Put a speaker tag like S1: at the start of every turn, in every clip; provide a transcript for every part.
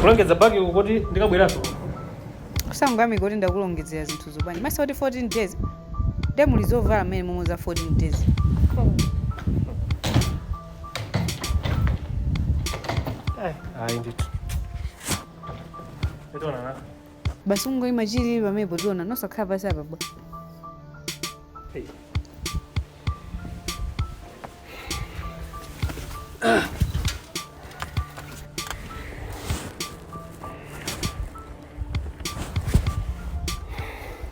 S1: kulongedza bagi uko kuti
S2: ndikabweranso usangalale kuti ndakulongedzera zinthu zopanira masiku kuti 14 days nde muli zovala mmenemo umu za 14 days
S1: Eh, ayi ndithu ndithu basi ungoyima
S2: chilili pamenepo tiona nosakhala pasi apa bwa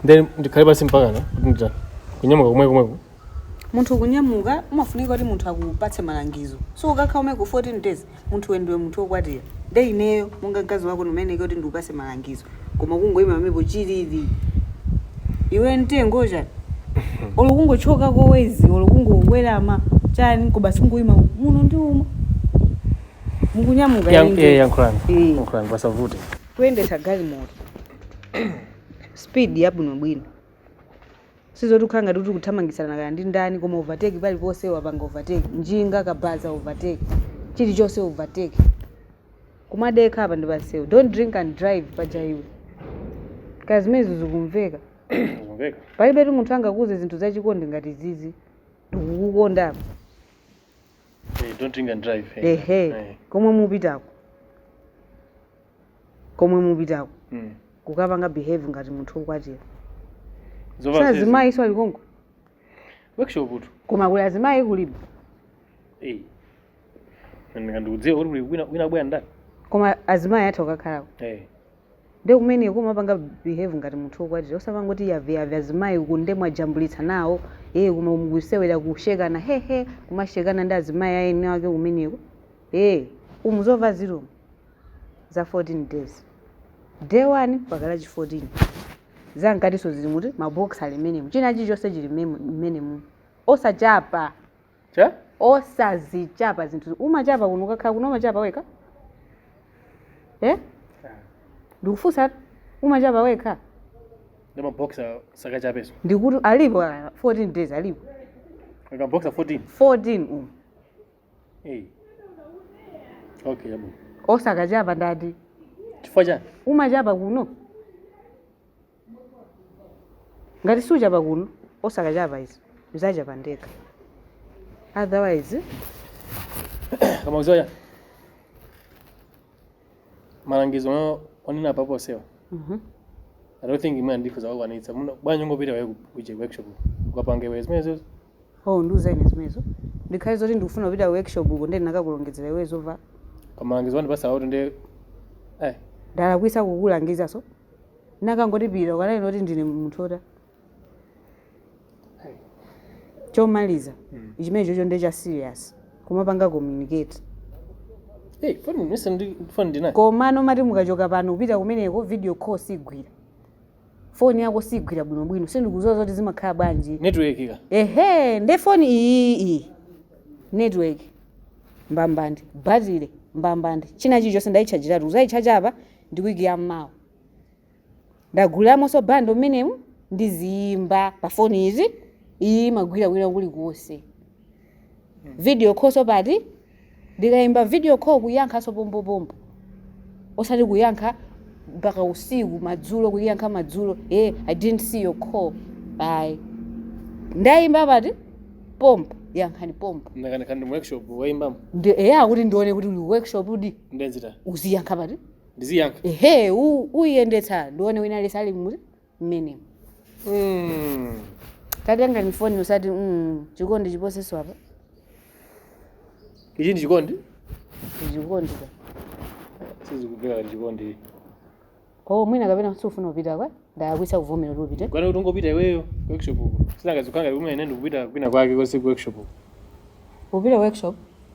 S1: then ndikhale pasi mpakana kuti kunyamuka komwe komweko
S2: Munthu kunyamuka umafunika kuti munthu akupatse malangizo so ukakhala kumeneko 14 days munthu iwe ndiwe munthu okwatira nde ineyo monga mkazi wako ndimayeneka kuti ndikupase malangizo koma kungoima pamenepo chilili ndiwe mtengo chani olo kungokhoka kowezi olo kungowelama chani ko basi ungoima muno ndi umo mukunyamuka Yan- ine eh, ndi- yankhulani Eh. yankhulani
S1: pasavute kuyendetsa
S2: galimoto speed yabwinobwino Sizoti ukhale ngati kuti ukuthamangitsana kaya ndi ndani koma overtake paliponse wapanga overtake. Njinga, kabaza overtake. Chilichonse overtake. Kumadekha apa ndi pansewu. Don't drink and drive paja iwe. Kaya zimenezo zikumveka. Kumveka. Palibetu munthu angakuuze zinthu zachikondi ngati izizi. Ndikukukonda apa. Eh,
S1: don't drink and drive. eh. Ehe. Eh. Komwe
S2: mupitako. komwe mupitako Mm. kukapanga behave ngati munthu wokwatira Zovala zezi. Si azimayiso alikonko Workshop
S1: utu. koma kuli azimayi
S2: kulibe Eh.
S1: Nanga ndikudziwa kuti kuli wina wina bwana ndani? koma
S2: azimayi atha kukakhalako Eh. nde kumeneko umapanga behave ngati munthu wokwatira usapange kuti yavyavya azimayi uku nde mwajambulitsa nawo ee koma mukusewera kusekana hehe kumasekana ndi azimayi aeni ake kumeneko ee umu zovala zilimo za 14 days day 1 mpaka lachi 14 zankatinso zilimutu maboxer ali mmenemu china chilichonse chili mmemu- mmenemu osachapa Che? osazichapa zinthu umachapa kuno ukakhala kuno umachapa wekha eh? ndikufunsa umachapa wekha Ndi
S1: maboxer usakachapeso. ndikuti alipo
S2: ah, 14 days alipo
S1: Maboxer 14. 14
S2: umu
S1: Hey. Okay, yabo. osakachapa
S2: ndati Chifukwa
S1: chani? umachapa
S2: kuno ngati suchapa kuno osakachapa izi ndizachapa ndekha
S1: otherwise Koma uziwa chani? Malangizo onena apapa onsewa. mhm. I don't think ine ndikhoza kuwakwanitsa. Muno bwanji ungopita iweyo ku workshop. Ukapange iwe zimenezo. Oh, ndiuza
S2: ine zimenezo. Ndikhale zoti ndikufuna kupita ku workshop uko ndiye ndinakakulongezera iwe zovala. Koma malangizo
S1: wandipatsawatu nde
S2: eh Ndalakwisa kukulangiza so. Nakangoti pita ukanene kuti ndine munthu ota. Chomaliza. Chimenechocho ndiye cha serious. Kumapanga communicate. hey phone mesa ndi phone ndina. Komano mati mukachoka pano kupita kumeneko video call sigwira. foni yako sigwira bwinobwino sindikuziwa zoti zimakhala bwanji network ka ehe
S1: nde foni
S2: iyiyi network mbambande batile mbambande china chilichonse ndayitchajiratu kuzayitchaja apa ndi wiki ya mmawa ndaguliramonso bando mmenemu ndiziyimba pa foni izi iyi imagwira kwina kulikonse video call so pati ndikayimba video call kuyankhanso pombopombo osati kuyankha mpaka usiku madzulo kuyankha madzulo eh i didn't see your call ayi ndayimba pati pompo yankhani pompo ndakanika ndi
S1: workshop waimbamo ndi eya kuti
S2: ndione kuti uli workshopdi ndenzita uziyankha
S1: pati
S2: ndiziyankha ehe
S1: u-
S2: uyiyendetsa ndione wina aliyense ali muti mmenemo Mm. tatengani foni usati mm, chikondi chiposenso
S1: apa ichi ndi chikondi chikondi
S2: ka
S1: sizikugwira kuti chikondi
S2: kwawo mwina kapena sufuna kupita kwa ndalakwitsa kuvomera kuti upite kunena kuti ungopita
S1: iweyo ku workshop uko sinangazikanga kumene ndikupita kwina kwake konse ku workshop uko upite
S2: workshop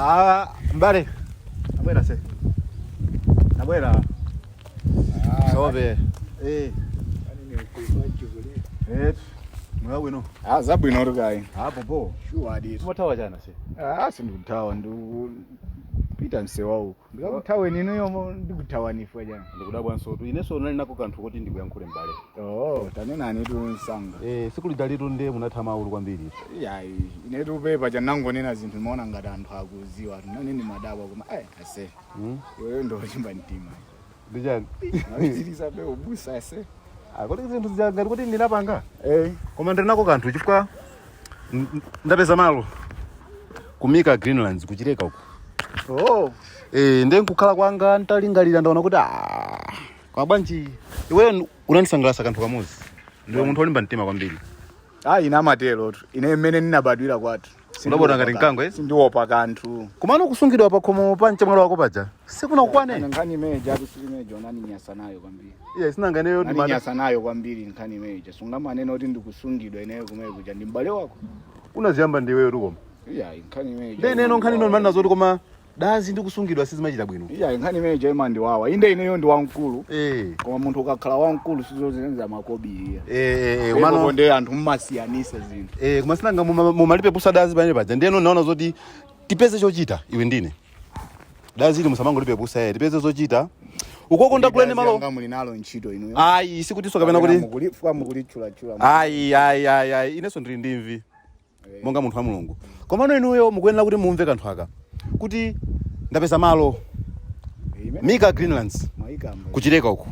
S3: Ah, mbale. Nabwera se. Nabwera. Sobe. Eh. Eh. Mwa bwino. Ah, zabwino uri kayi. Hapo po. Sure aditi. Mutawa
S1: jana se.
S3: Ah, sindikutawa ndikupita msewa uku. Ndikakuthaweni inuyo mo- ndikuthawani chifukwa chani? ndikudabwansotu
S4: ineso ndinali nako kanthu koti ndikuyankhule m'bale Oh, tanenani
S3: tu msanga. eh, tsiku lijalitu nde
S4: munatha maulu kwambiri Iyayi,
S3: inetu pepa cha ndinangonena zinthu ndimaona ngati anthu akuziwatu. Nane ndimadabwa koma eh ase. mm? Iweyo ndi olimba mtima. Ndi
S4: chani?
S3: Mupitilizabe ubusa ase. Ah, kodi
S4: zinthu zija ngati kuti ndinapanga? Eh. Koma ndiri nako kanthu chifukwa n- n- ndapeza malo kumika Greenlands ku Chileka uko. Oh. Eh, ndiye nkukhala kwanga ntalingalira ndaona kuti ah, koma bwanji iweyo n- unandisangalatsa kanthu kamodzi. Ndiwe munthu olimba mtima kwambiri. Ah, ena
S3: amaterotu. Ine mmene ndinabadwira kwathu. Ndinabadwa ngati mkango,
S4: eh? Sindiopa
S3: kanthu. Komano kusungidwa
S4: pa khomo pa mchemwali wako paja. Sikunakukwane. Nkhani imene ijatu sili
S3: imene ija unandinyasa nayo kwambiri. Iye sinanga ineyo ndi Nani
S4: mada. nyasa nayo
S3: kwambiri nkhani imene ija. Sungamanena kuti ndikusungidwa ineyo kumene kuja ndi m'bale wako. Unaziyamba
S4: ndiweyotu koma. Iya, nkhani imene
S3: ija. Nde ineyo nkhani ino ndimanena zoti
S4: koma dazi ndi kusungidwa sizimachita bwino iya nkhani imene
S3: jaima ndiwawa inde ineyo ndi wamkulu eh koma munthu ukakhala wamkulu sizozenza makobiri eh eh eh, komano nde anthu mmasiyanisa zinthu eh koma sinanga muma- mumalipe
S4: pusa dazi pamene paja ndeno ndaona zoti tipeze chochita iwe ndine dazi ili musamangolipe pusa eh tipeze zochita ukoko ndakulenera malo Yanga muli nalo ntchito
S3: inuyo ayi sikutinso kapena kuti
S4: mukulitchulatchula
S3: ayi ayi ayi
S4: ayi inenso ndili ndi mvi monga munthu wa mulungu komano inuyo mukuyenera kuti mumve kanthu kaka kuti ndapeza malo mika greenlands ku Chileka uku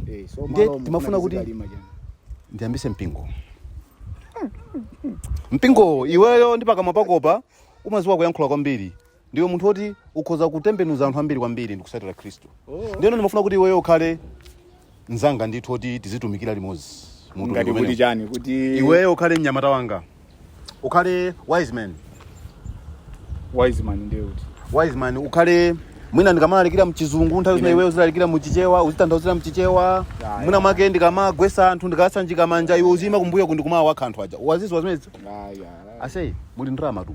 S4: ndiye ndimafuna kuti ndiyambise mpingo mpingo iweyo ndi pakamwa pakopa umaziwa kuyankhula kwambiri ndiwe munthu woti ukhoza kutembenuza anthu ambiri kwambiri ndikusatira khristu ndiyeno ndimafuna kuti iweyo ukhale mzanga ndithu oti tizitumikira limodzi mu utumiki ngati umenewu. kuti
S3: chani kuti iweyo ukhale mnyamata
S4: wanga ukhale wise man
S3: wise man ndiye kuti wise man
S4: ukhale mwina ndikamalalikira mchizungu nthawi zina iweyo uzilalikira mchichewa uzitanthauzira mchichewa Ya, mwina ya. make ndikamagwesa anthu ndikasanjika manja iwe uziima kumbuyo nkumawawakha anthu aja waziziwa zimenezi aya ase muli ndalamatu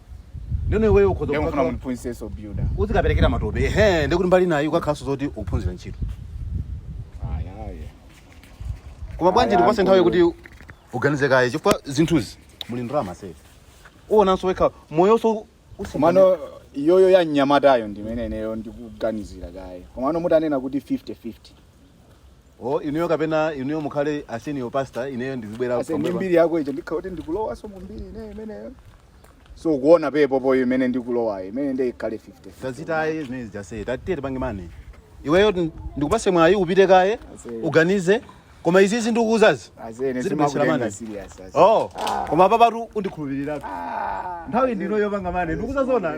S4: ndeno iweyo ukhoza ndekufuna kukakhala-
S3: mundiphunziseso builder uzikaperekera matope
S4: ehe ndekuti mbali inayo ukakhalanso zoti ukuphunzira ntchito ayaye koma bwanji Aya, ndikupase nthawi mkulu. kuti uganize kaye chifukwa zinthuzi muli ndalama ase uonanso wekha moyonso
S3: komano iyoyo ya mnyamatayo ndimene ineyo ndikuganizira kaye komano mutanena kuti 50 50 o inuyo kapena inuyo
S4: mukhale a senior pastor ineyo ndizibwera ase ndi pambuyo pa- mbiri yako ndiye
S3: ndikhala kuti ndikulowanso mu mbiri ineyo imeneyonso ukuona pepopo imene ndikulowayo imene nde ikhale 50 tazitaye zimene
S4: zija ase tatiye tipange mani iweyo ndi- ndikupase mwayi upite kaye Ase. uganize koma izizi ndikuuzazi anzake zilibesera sindimakutenga mani serious
S3: ase oh koma
S4: papatu undikhulupirirapo nthawi ndino yopanga mani ndikuuza zoona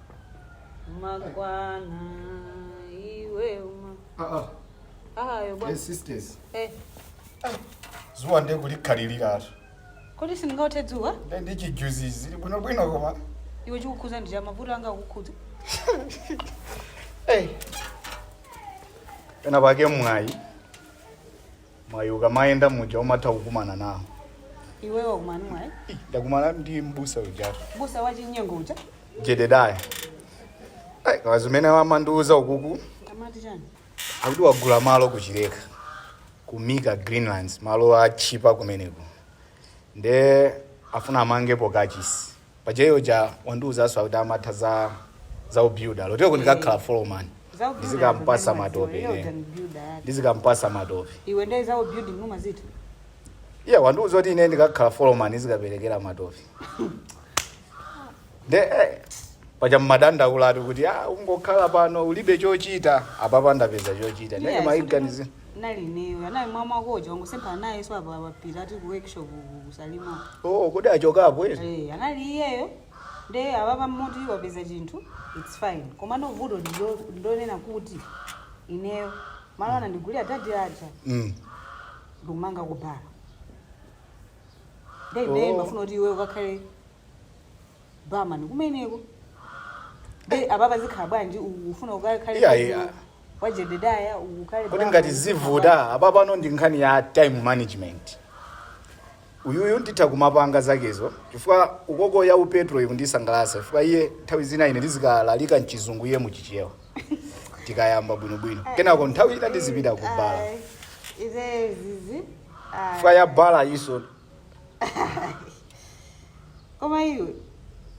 S2: umakwana iwe uma Ah, ah, ayo eh, bwana sisters
S3: eh zuwa nde kulikhaliriratu kodi sindingaothe
S2: dzuwa nde ndi
S3: chijuzi zili bwinobwino koma iwe chikukhuza
S2: ndi chani mavuto anga akukhuza Hey.
S3: pena pake mwayi mwayi ukamayenda muja umatha kukumana nawo iwe wakumana
S2: ndi mwayi ndakumana
S3: ndi mbusa ujatu mbusa wachinyengo
S2: uja jededaya
S3: Ai, koma zimene amandiuza ukuku
S2: amati chani akuti
S3: wagula malo ku Chileka ku mika greenlands malo atchipa kumeneko nde afuna amangepo kachisi paja iyo uja wandiuzaso akuti amatha za za ubuilder loteko ndikakhala foreman ndizikampasa matope ine ndizikampasa matope iwe ndee za ubuilding
S2: umazitha iye
S3: wandiuza kuti ine ndikakhala foreman ndizikaperekera matope nde eh, paja mmadandaulatu kuti ah, ungokhala pano ulibe chochita apapa ndapeza chochita ndene maganizo Nali
S2: ineyo. Anali mwamuna wako uja wangosemphana nayeso apa apa pita ati ku workshop ku ku Salima. Oh, kodi achokapo
S3: eti? Eh, anali iyeyo.
S2: Nde apapa mmoti wapeza chinthu, it's fine. Komano vuto ndi lonena kuti ineyo malo anandigulira dadi aja Mm. ndikumanga kubhala. Nde ineyo Oh. ndimafuna kuti iwe ukakhale barman kumeneko nde apapa zikhala bwanji ukufuna ukakhale Iya, iya. kwa- kwa jededaya ukhale kodi barman, ngati zikhala bwanji? zivuta
S3: apa pano ndi nkhani ya time management uyuyu nditha kumapanga zakezo chifukwa ukoku ya upetro ikundisangalatsa chifukwa iye nthawi zina ine ndizikalalika mchizungu iye muchichewa tikayamba bwinobwino kenako nthawi ina ndizipita kubala Ayi, ize zizi ayi. chifukwa ya bala iso
S2: koma iwe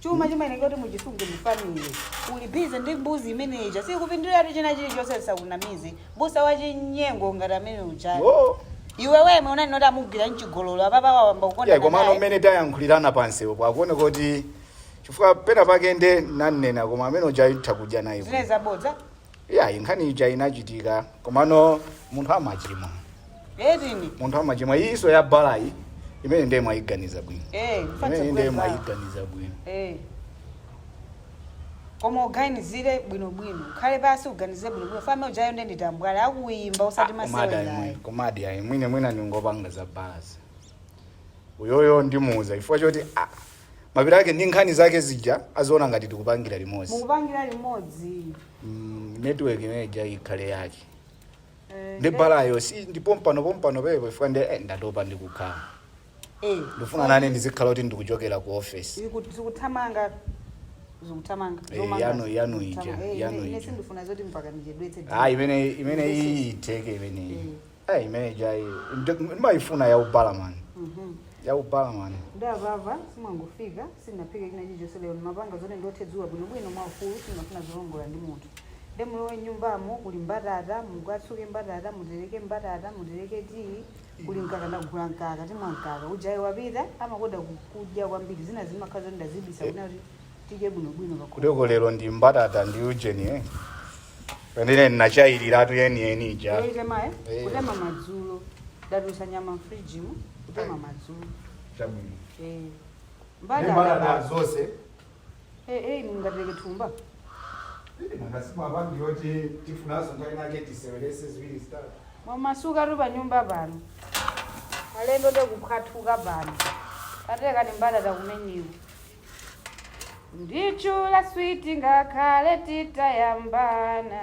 S2: chuma chimayeneka kuti muchisunge mufamile uli busy ndi mbuzi imene ija sikupinduliratu china chilichonse asakunamize m'busa wachinyengo ngati amene uja Oh. iwe wemwe unali nkuti amugwira mchigololo apapa wayamba Yeah, komano kukonda mmene
S3: tayankhulirana pansi upo akuone kuti chifukwa pena pake nde nanena koma amene uja utha kudya naye zine zabodza
S2: iyayi
S3: nkhani ija inachitika komano munthu amachimwa Edini. munthu amachimwa iyiso ya balayi imene ndiye mwayiganiza bwino Eh, imene mfatse ndiye kuweza. mwayiganiza bwino Eh.
S2: Koma uganizire bwino bwino. Ukhale pansi uganize bwino bwino. Fame ujayo nde ndi tambwala akuyimba usati komadi masewera. ayi komadi ayi mwine
S3: mwina ndingopanga za balazi uyoyu ndimuuza chifukwa choti ah, mapira ake ndi nkhani zake zija aziona ngati tikupangira limodzi mukupangira
S2: limodzi mm,
S3: network imene ija ikhale yake Eh, ndi balayo si ndi pompano pompano pepo chifukwa ndi eh, ndatopa ndikukhala eh, ndifuna nanenso ndizikhala kuti ndikuchokera ku office ziku-
S2: zikuthamanga zikuthamanga Eh, zomanga.
S3: yanu- yanu ija, Zikuthamanga. Eh, yanu ine- ine ija. sindifuna zoti
S2: mpaka ndichedwetse ah imene
S3: imene iyi itheke imeneyi Eh, imene ijayi ndi- ndimayifuna ya ubarman ya ubarman ndamva
S2: ndamva simwangofika sindinaphike china chilichonse lero ndimapanga zoti ndiothe dzuwa bwinobwino mwaufulu sindimafuna zolongolola ndi munthu nde mulowe mnyumbamo kuli mbatata mukatsuke mbatata mutereke mbatata mutereke tiyi kuli mkaka ndagula mkaka timwa mkaka ujayi wapita amakonda ku- kudya kwambiri zina zimakhala zoti ndazibisa kuti tidye bwinobwino pakhomo kuteko lero ndi
S3: mbatata ndi ujeni eh pendine ndinachayiliratu yeniyeni ija yoitema eh? Eh.
S2: kutema madzulo ndatulutsa nyama mfrijimu kutema madzulo
S3: chabwino
S2: Eh. mbatata zonse
S3: Eh, eh, inu
S2: mungapereke
S3: thumba nangasimu apangi yoti tifunazo nthawi nake tisewerese ziwiri zitatu mwamasukatu pa
S2: nyumba pano alendo nde kuphwathuka pano katekani mbatata kumenyiwa Nditchule sweet ngakhale titayambana.